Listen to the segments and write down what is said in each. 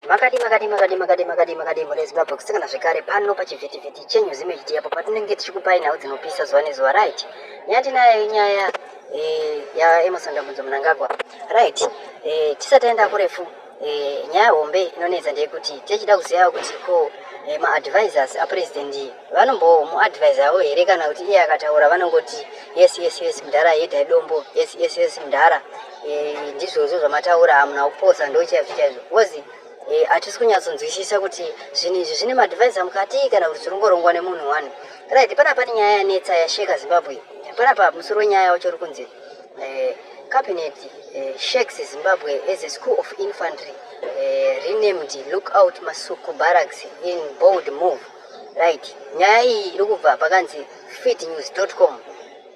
Makadi makadi makadi makadi makadi makadi mune Zimbabwe kusangana zvekare pano pachivhitivhiti chenyu zimejiti apo patinenge tichikupai nhau dzinopisa zuva nezuva right nyaya tinayo inyaya eh, yaEmerson Dambudzo Mnangagwa right eh, tisati aenda kurefu eh, nyaya hombe inonetsa ndeyekuti tichida kuzivawo kuti ko maadvisors apresident vanombowo muadvisor avo here kana kuti iye akataura vanongoti yes yes yes mdhara yedai dombo yes yes yes mdhara Eh, ndizvozvo zvamataura hamuna kuposa ndochaizvo chaizvo bcoz eh, hatisi kunyatsonzwisisa kuti zvinhu izvi zvine madivise amukati kana kuti zvirongorongwa nemunhu one rit panapa pane nyaya yanetsa yasheka zimbabwe panapa musoro wenyaya wacho uri kunzi eh, cabinet shakes zimbabwe as a school of infantry renamed look out masuku barracks in bold move rit nyaya iyi iri kubva pakanzi fitnews com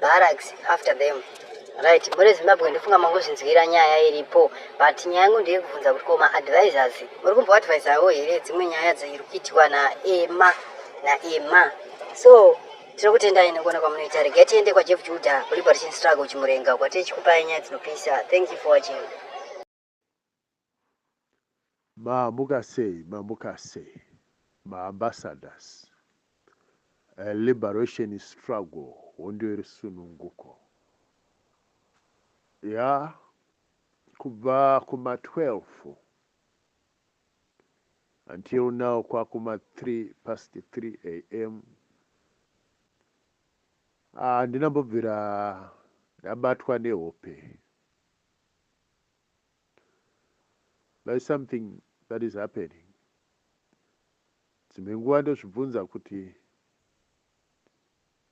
barracks after them right muri zimbabwe ndofunga mangozvinzwira nyaya iripo but nyaya yangu ndeyekubvunza kuti ko maadvisors muri kumboadvisawo here dzimwe nyaya dziri kuitiwa naema naema so tiri kutendai nekuona kwamunoita regai tiende kwajeff juda kuliberation struggle chimurenga kwatiri chikupai nyaya dzinopisa thank you for watching Mamuka sei mamuka sei ma ambassadors a liberation struggle hondo yerusununguko yaa kubva kuma 12 until now kwakuma 3 past 3 am handina ah, mbobvira ndabatwa nehope There is something that is happening. Dzimwe nguva ndozvibvunza kuti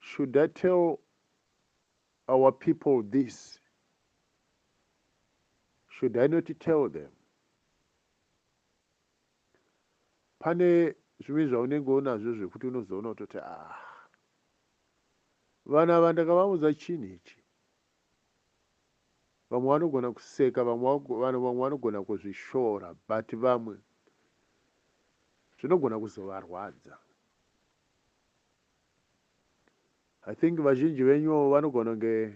should I tell our people this? Should I not tell them? Pane zvimwe zvaunenge unazvo zvekuti unozoona kutoti ah vana vandakavaudza chinhu ichi Vamwe vanogona kuseka vamwe vanhu vamwe vanogona kuzvishora but vamwe zvinogona kuzovarwadza. I think vazhinji venyu vanogona kunge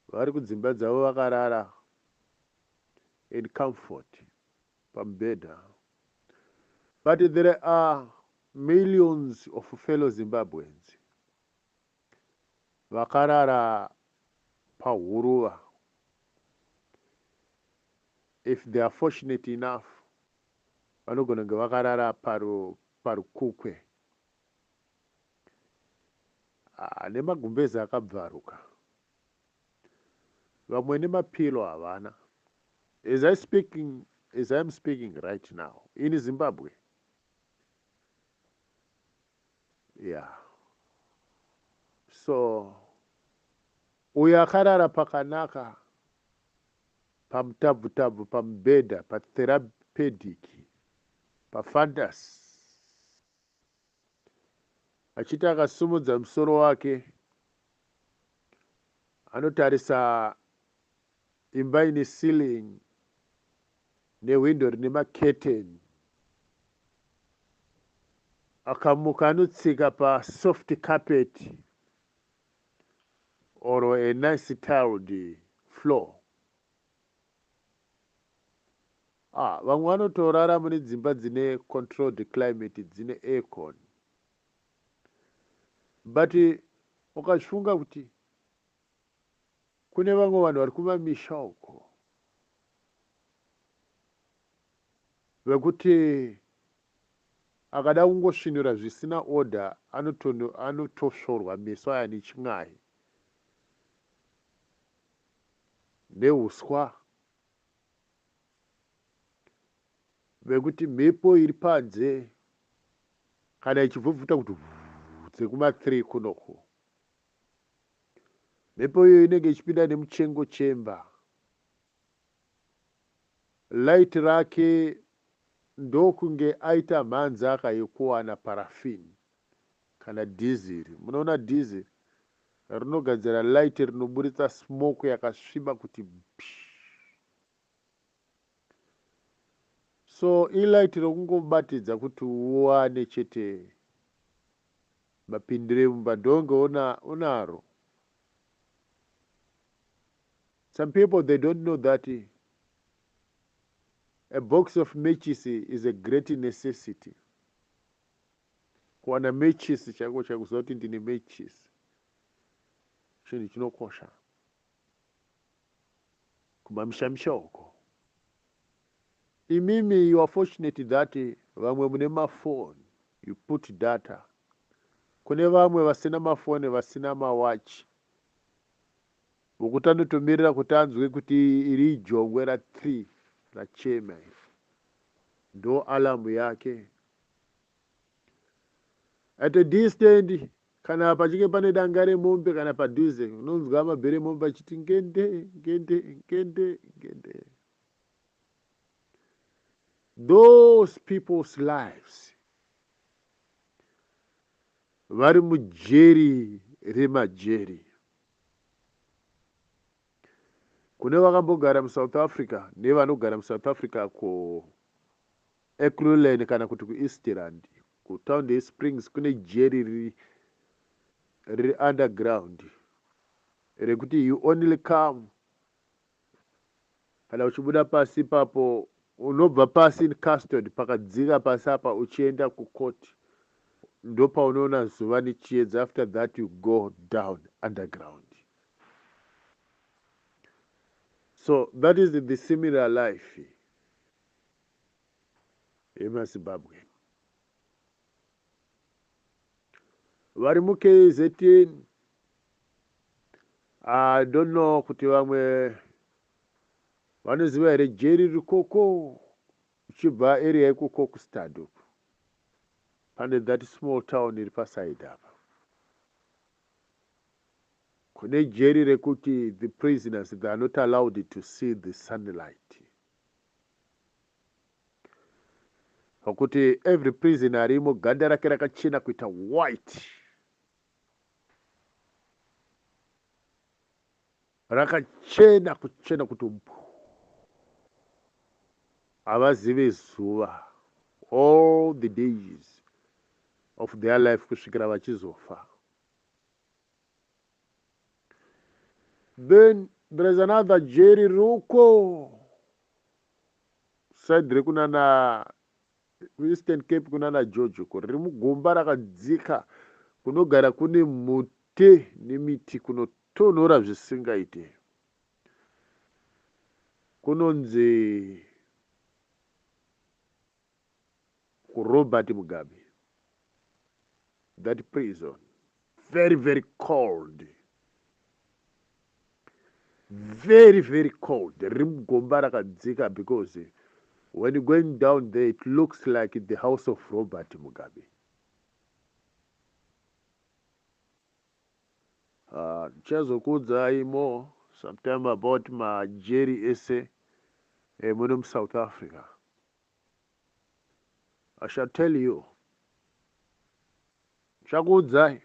vari kudzimba dzavo vakarara in comfort pamubhedha but there are millions of fellow Zimbabweans vakarara pahuruva if they are fortunate enough vanogona kunge vakarara paru parukukwe ah, nemagumbezi akabvaruka vamwe nemapilo havana as i speaking as i am speaking right now in zimbabwe Yeah so uyo akarara pakanaka pamutabvutabvu pamubhedha patherapedic pafantasy achiti akasumudza musoro wake anotarisa Imba ine ceiling nehwindo rine macurtain. Akamuka anotsika pasoft carpet or a nice tiled floor. Ah, vamwe vanotorara mune dzimba dzine controlled climate dzine aircon. But ukachifunga kuti Kune vamwe vanhu vari kumamisha uko vekuti akada kungosvinura zvisina order anotosvorwa meso aya nechin'ai nehuswa vekuti mhepo iri panze kana ichibvubvuta kuti dzekuma 3 kunoku Mhepo iyoyo inenge ichipinda nemuchengo chemba. Light rake ndokunge aita mhanzaka yekuwana paraffin kana dhiziri. Munoona dhiziri rinogadzira light rinoburitsa smoke yakasviba kuti bhi. So ilight rokungobatidza kuti uwane chete mapindire mumba ndonge una, unaro. Some people they don't know that a box of matches is a great necessity. Kuwana matches chako chakuziva kuti ndine matches chinhu chinokosha. kumamisha misha uko imimi you are fortunate that vamwe mune mafon you put data kune vamwe vasina mafone vasina mawachi vokuti anotomirira kuti anzwe kuti iri ijongwe ra three rachema iri ndo alamu yake at a distant Kana pachinge pane danga remombe kana padhuze, unonzwa mabhero emombe achiti ngende, ngende, ngende, ngende. Those people's lives vari mujeri remajeri. Kune vakambogara muSouth Africa nevanogara muSouth Africa kuEkurhuleni kana kuti kuEastrand, kutown yeSprings kune jeri riri riri underground rekuti you only come kana uchibuda pasi ipapo unobva pasi in custody pakadzika pasi apa uchienda kucourt ndopaunoona zuva nechiedza after that you go down underground. So that is the similar life yemazimbabwe vari mukzn i don't know kuti vamwe vanoziva here jeri rikoko uchibva area yekuko kustad uku pane that small town iri pasaid apa Kune jeri rekuti the prisoners they are not allowed to see the sunlight. Pakuti every prisoner arimo ganda rake rakachena kuita white. rakachena kuchena kuti mpu havazive zuva all the days of their life kusvikira vachizofa then there is another jeri ruko said rekunana kuEastern Cape kunana Jojo ko riri mugomba rakadzika kunogara kune mhute nemiti kunotonhora zvisingaite kunonzi kuRobert Mugabe. that prison very very cold very very cold riri mugomba rakadzika because when you're going down there it looks like the house of robert mugabe ah, ndichazokuudzai uh, more sometime about majeri ese eh, muno musouth africa I shall tell you. Ndichakuudzai.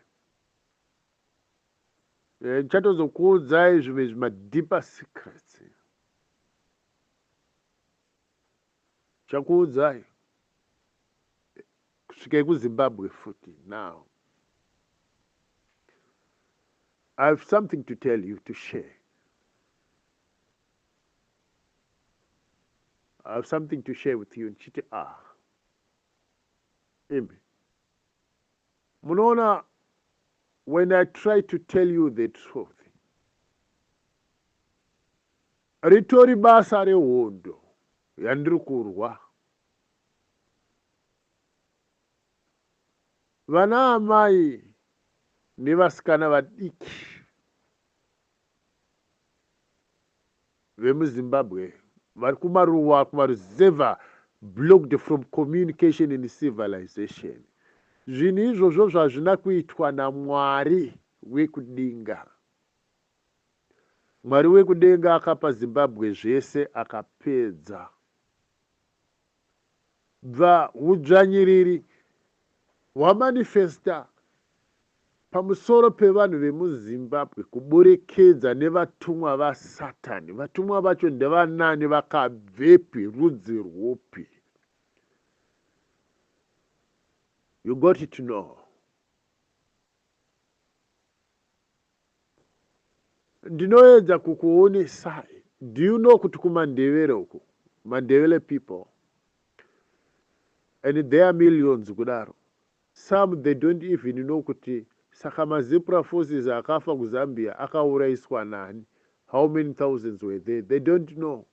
Eh, ndichatozokuudzai zvimwe zvimadeeper secrets. Ndichakuudzai. Kusvikei kuZimbabwe futi now. I have something to tell you to share. I have something to share with you ndichiti ah imi munoona when i try to tell you the truth ritori basa rehondo yandiri kurwa vana amai nevasikana vadiki vemuZimbabwe vari kumaruwa kumaruzevha blocked from communication and civilization zvinhu izvozvo zvazvina kuitwa naMwari wekudenga Mwari wekudenga akapa Zimbabwe zvese akapedza Bva hudzvanyiriri hwamanifesta pamusoro pevanhu vemuZimbabwe kuburikidza nevatumwa vasatani. Vatumwa vacho ndevanani, vakabvepi, rudzi rwupi? You got to know. Ndinoedza kukuonesai. Do you know kuti kuMandevere uku, Mandevele people, and there are millions kudaro, some they don't even know kuti saka mazipra forces akafa kuZambia akauraiswa nani, how many thousands were there, they don't know.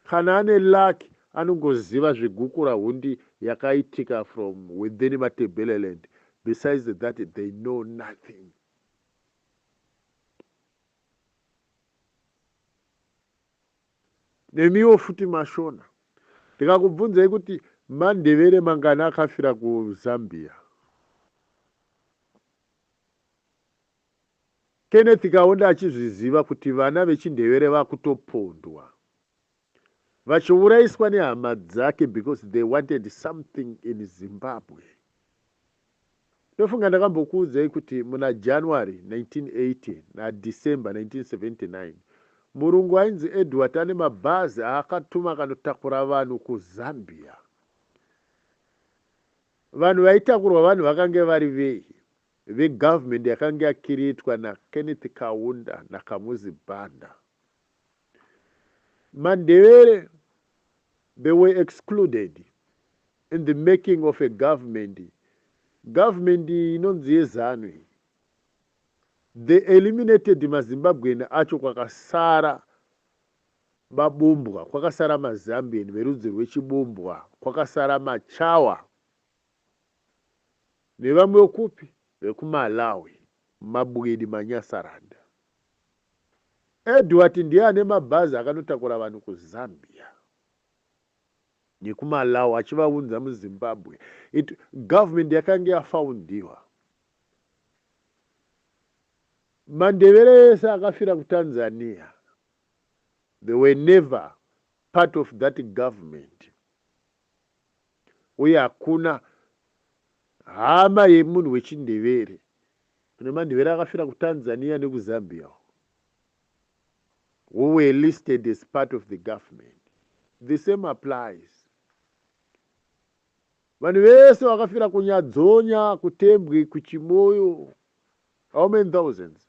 Kana ane luck anongoziva zvegukura hundi yakaitika from within Matebeleland, besides that they know nothing. nemiwo futi mashona ndikakubvunzai kuti mandevere mangani akafira kuzambia kenneth kaunda achizviziva kuti vana vechindevere vakutopondwa Vachiuraiswa nehama dzake because they wanted something in Zimbabwe. Ndofunga ndakambokuudzai kuti muna January 1980 na December 1979 murungu ainzi Edward ane mabhazi aakatuma akanotakura vanhu kuZambia. Vanhu vaitakurwa vanhu vakange vari vei? Vegovernment yakange yakiriitwa naKenneth Kaunda naKamuzi Banda. Mandebele they were excluded in the making of a government, government inonzi yeZanu iyi. They eliminated maZimbabwean acho kwakasara mabumbwa, kwakasara maZambian verudzi rwechibumbwa, kwakasara maChawa nevamwe vekupi, vekuMalawi, mabwidi, manyasaranda. Edward ndiye ane mabhazi akanotakura vanhu kuZambia nekuMalawi achivaunza muZimbabwe. It, government yakange yafoundiwa. Mandevere ese akafira kuTanzania. They were never part of that government. uye hakuna hama yemunhu wechiNdevere. Kune maNdevere akafira kuTanzania nekuZambia uko who were listed as part of the government. The same applies. Vanhu vese vakafira kuNyadzonya, kuTembwe, kuChimoyo, how many thousands?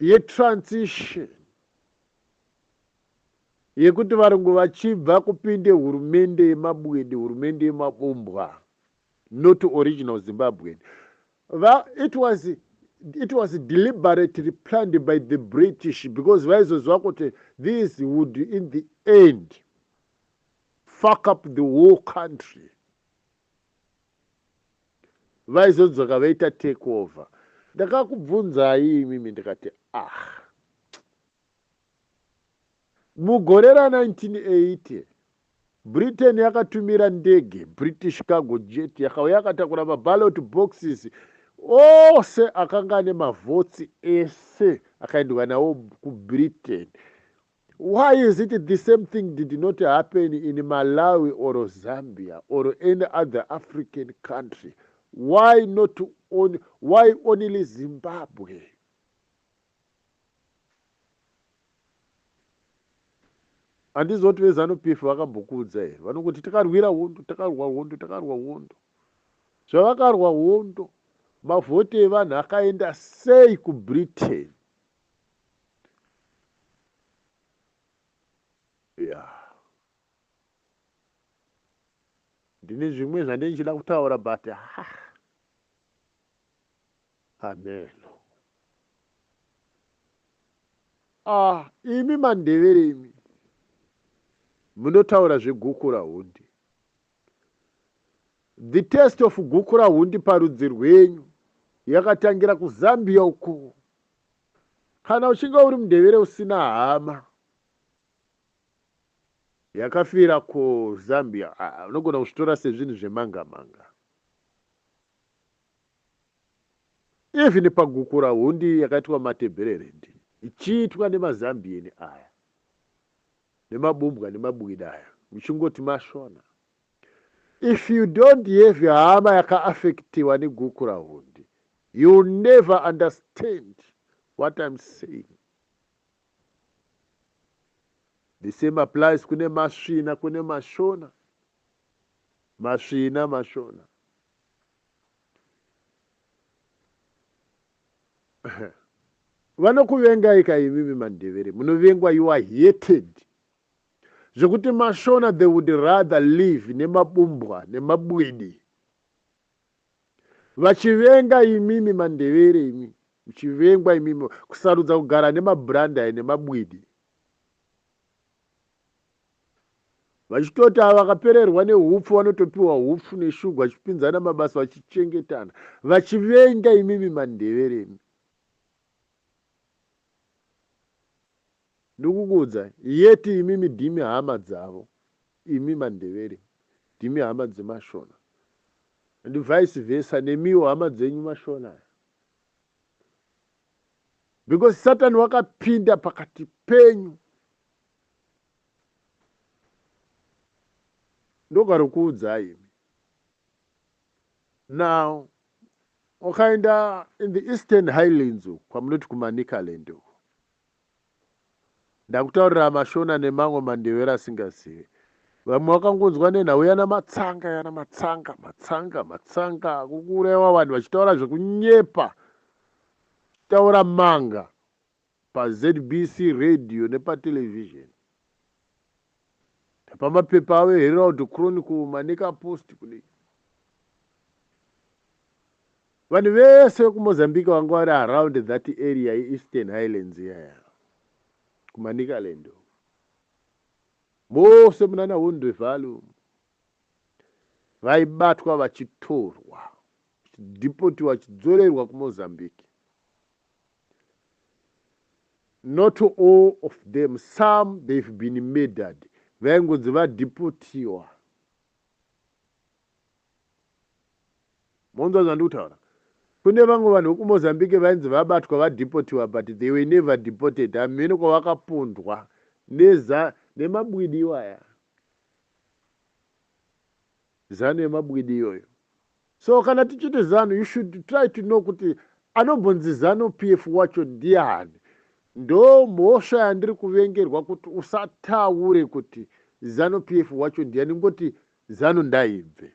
yetransition yekuti varungu vachibva kupinde hurumende yemabwede hurumende yemabombwa not original zimbabwean it was it was deliberately planned by the british because vaizoziva kuti this would in the end fuck up the whole country vaizodzoka vaita take over ndakakubvunzai imimi ndikati ah mugore ra 1980 britain yakatumira ndege british cargo jet yakauya yakatakura mabalot boxes ose akanga ane mavhotsi ese akaendwa nawo kubritain Why is it the same thing did not happen in Malawi or Zambia or any other African country why not on, why only Zimbabwe? Andizoti vezanu PF vakambokuudza here vanokuti takarwira hondo takarwa hondo takarwa hondo zvavakarwa hondo mavhoti evanhu akaenda sei kubritain Yeah. Ndine zvimwe zvandine ndichida kutaura but ah. Hameno. Ah, imi mandevere imi. Munotaura zvegukura hundi. The test of gukurahundi parudzi rwenyu yakatangira kuZambia uko. Kana uchinge uri mundevere usina hama yakafira kuZambia ah, unogona kuzvitora sezvinhu zvemanga manga. Even pagukura hundi yakaitwa matebhererendi ichiitwa nemaZambian aya nemabumbwa nemabwida aya muchingoti mashona If you don't have hama yaka affectiwa ne gukurahundi you'll never understand what I'm saying. The same applies kune masvina kune mashona. Masvina mashona. vanokuvengai ka imimi mandevere munovengwa you are hated Zvekuti mashona they would rather live nemabumbwa nemabwidi vachivenga imimi mandevere imi muchivengwa imimi kusarudza kugara nemabrandai nemabwidi vachitoti ava vakapererwa neupfu vanotopiwa upfu neshugu vachipinzana mabasa vachichengetana vachivenga imimi mandevere imi Ndokukuudza yet imimi dimi hama dzavo imi mandevere dimi hama dzemashona and vice versa nemiwo hama dzenyu mashona aya because satan wakapinda pakati penyu ndokarokuudzai imi now ukaenda in the eastern highlands kwamunoti kumanicaland uko Ndakutaurira mashona nemamwe mandevere asingazive. Vamwe wakangonzwa nenhau yana matsanga yana matsanga matsanga matsanga kukuuraiwa vanhu vachitaura zvekunyepa chitaura manga paZBC radio nepatelevision. Ndapamapepa avo eHerald Chronicle maNeka Post kudai. Vanhu vese vekuMozambique vanga vari around that area yeEastern Highlands iyaya kuManicaland mose munana Wondrevalo vaibatwa vachitorwa vachidipotiwa vachidzorerwa kuMozambique Not all of them, some they've been murdered. Vaingonzi vadeportiwa. Monzwa zvandiri kutaura? Kune vamwe vanhu vekuMozambique vainzi vabatwa vadeportiwa but they were never deported hamheno kwavakapondwa neza nemabwidi iwaya. Zanu yemabwidi iyoyo. So kana tichiti zanu you should try to know kuti anombonzi zanu PF wacho ndiani. Ndo mhosva yandiri kuvengerwa kuti usataure kuti zanu PF wacho ndiani ngoti zanu ndaibve.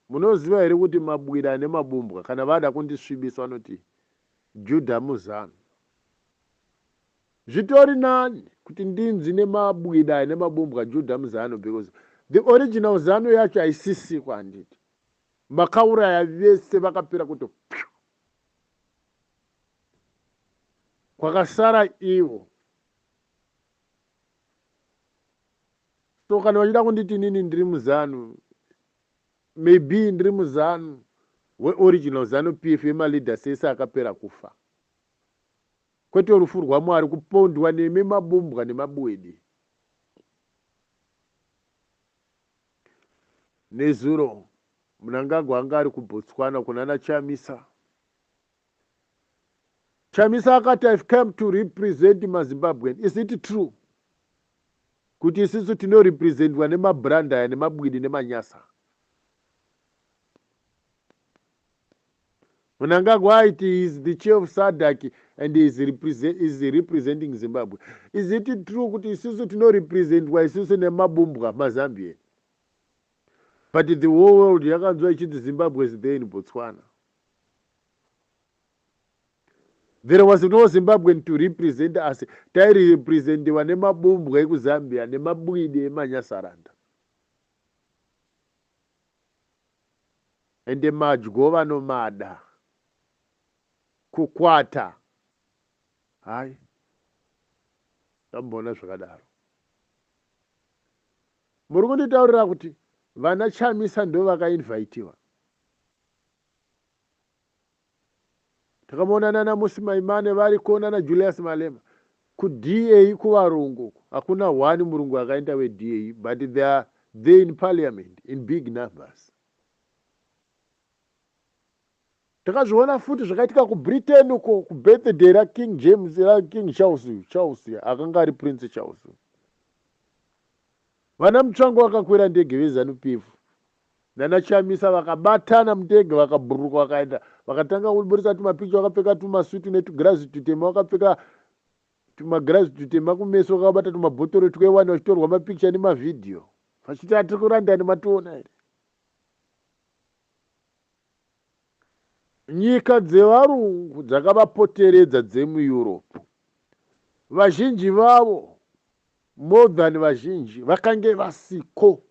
munoziva here kuti mabwira ane mabumbwa kana vada kundisvibisa vanoti judha muzanu Zvitori nani kuti ndinzi nemabwida ane mabumbwa Judah muZanu because the original Zanu yacho haisisiko handiti makauraya vese vakapera kuto pyu kwakasara ivo so kana vachida kunditi inini ndiri muZanu maybe ndiri muZanu weoriginal Zanu PF yemaleaders ese akapera kufa Kwete rufu rwaMwari kupondwa nemi mabumbwa nemabwidi. Nezuro Mnangagwa anga ari kuBotswana kunana Chamisa. Chamisa akati I've come to represent maZimbabwean. Is it true kuti isisu tinorepresentwa nemabrand aya nemabwidi nemanyasa? Mnangagwa aiti he is the chair of SADC and he is, represent, he is representing Zimbabwe. Is it true kuti isusu tinorepresentwa isusu nemabumbwa maZambian? But the whole world yakanzwa ichiti Zimbabwe is there in Botswana. There was no Zimbabwean to represent us. Tairi representiwa nemabumbwa ekuZambia nemabwidi emanyasaranda. Ende madyo vanomada. Kukwata hayi ndamboona zvakadaro. Muri kunditaurira kuti vana Chamisa ndovakainvhaitiwa? Takamonana na Musi Maimane variko nana Julius Malema ku DA kuvarungu uko hakuna one murungu akaenda we DA but they are there in parliament in big numbers. Takazviona futi zvakaitika ku Britain uko ku birthday ra King James ra King Charles Charles akanga ari Prince Charles. Vana Mutsvango vakakwira ndege ve Zanu PF nana Chamisa vakabatana mudege vakabhururuka vakaenda vakatanga kuburitsa tumapicha vakapfeka tumasutu netugirazi tutema vakapfeka tumagirazi tutema kumeso vakabata tumabhotoro twewani vachitorwa mapikicha nemavhidhiyo vachiti atiri kurandani mationa here nyika dzevarungu dzakavapoteredza dzemueurope vazhinji vavo more than vazhinji vakange vasiko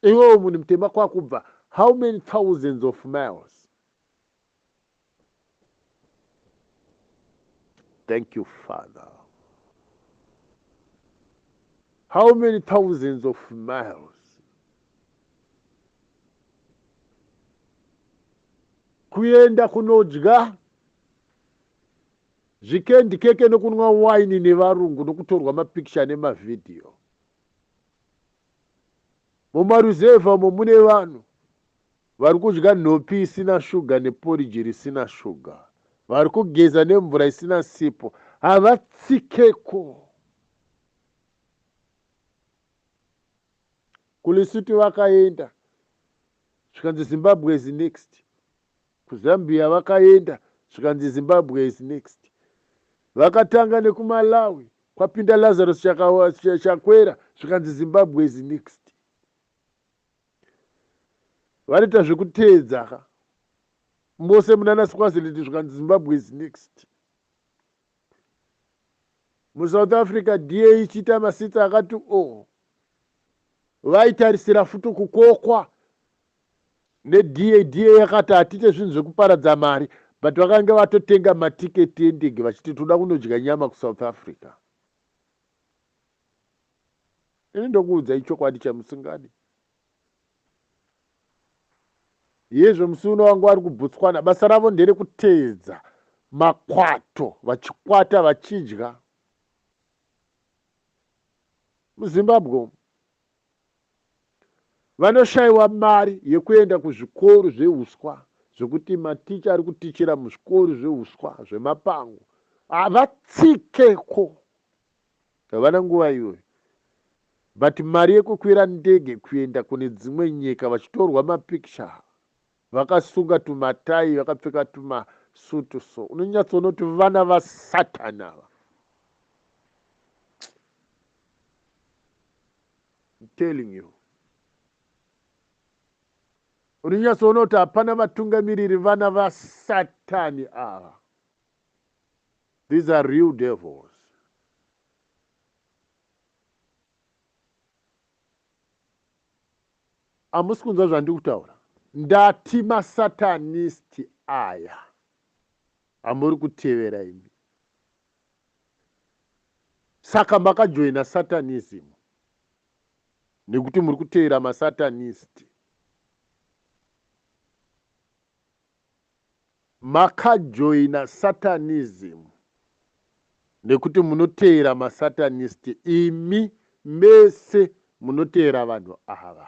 Iwewe munhu mutema kwakubva how many thousands of miles? Thank you Father. How many thousands of miles? kuenda kunodya zvikendi keke nokunwa waini nevarungu nokutorwa mapikicha nemavhidhiyo Mumaruzevha umo mune vanhu vari kudya nhopi isina shuga neporiji risina shuga. Vari kugeza nemvura isina sipo. Havatsikeko. KuLesotho vakaenda zvikanzi Zimbabwe is next. KuZambia vakaenda zvikanzi Zimbabwe is next. Vakatanga nekuMalawi kwapinda Lazarus Chaka, Chakwera zvikanzi Zimbabwe is next. Vanoita zvekuteedza ka mose munana Swaziland zvikanzi Zimbabwe is next. MuSouth Africa DA ichiita masitsa akati o oh. vaitarisira futi kukokwa nedada yakati hatite zvinhu zvekuparadza mari but vakange vatotenga matiketi endege vachiti toda kunodya nyama kusouth africa ini ndokuudza ichokwadi chamusingadi yezvo musi uno vanga vari kubotswana basa ravo nderekuteedza makwato vachikwata vachidya muzimbabwe umu Vanoshayiwa mari yekuenda kuzvikoro zvehuswa zvekuti maticha ari kutichira muzvikoro zvehuswa zvemapango havatsikeko. Havana nguva iyoyo. But mari yekukwira ndege kuenda kune dzimwe nyika vachitorwa mapikicha Vakasunga tumatai vakapfeka tuma suit so unonyatsoona kuti vana va satan ava. I'm telling you. Unonyatsoona kuti hapana vatungamiriri vana va satani ava. These are real devils. Hamusi kunzwa zvandiri kutaura? Ndati maSatanist aya. Hamuri kutevera imi. Saka makajoina Satanism nekuti muri kutevera maSatanist. Makajoina satanism nekuti munoteera ma satanist imi mese munoteera vanhu ava.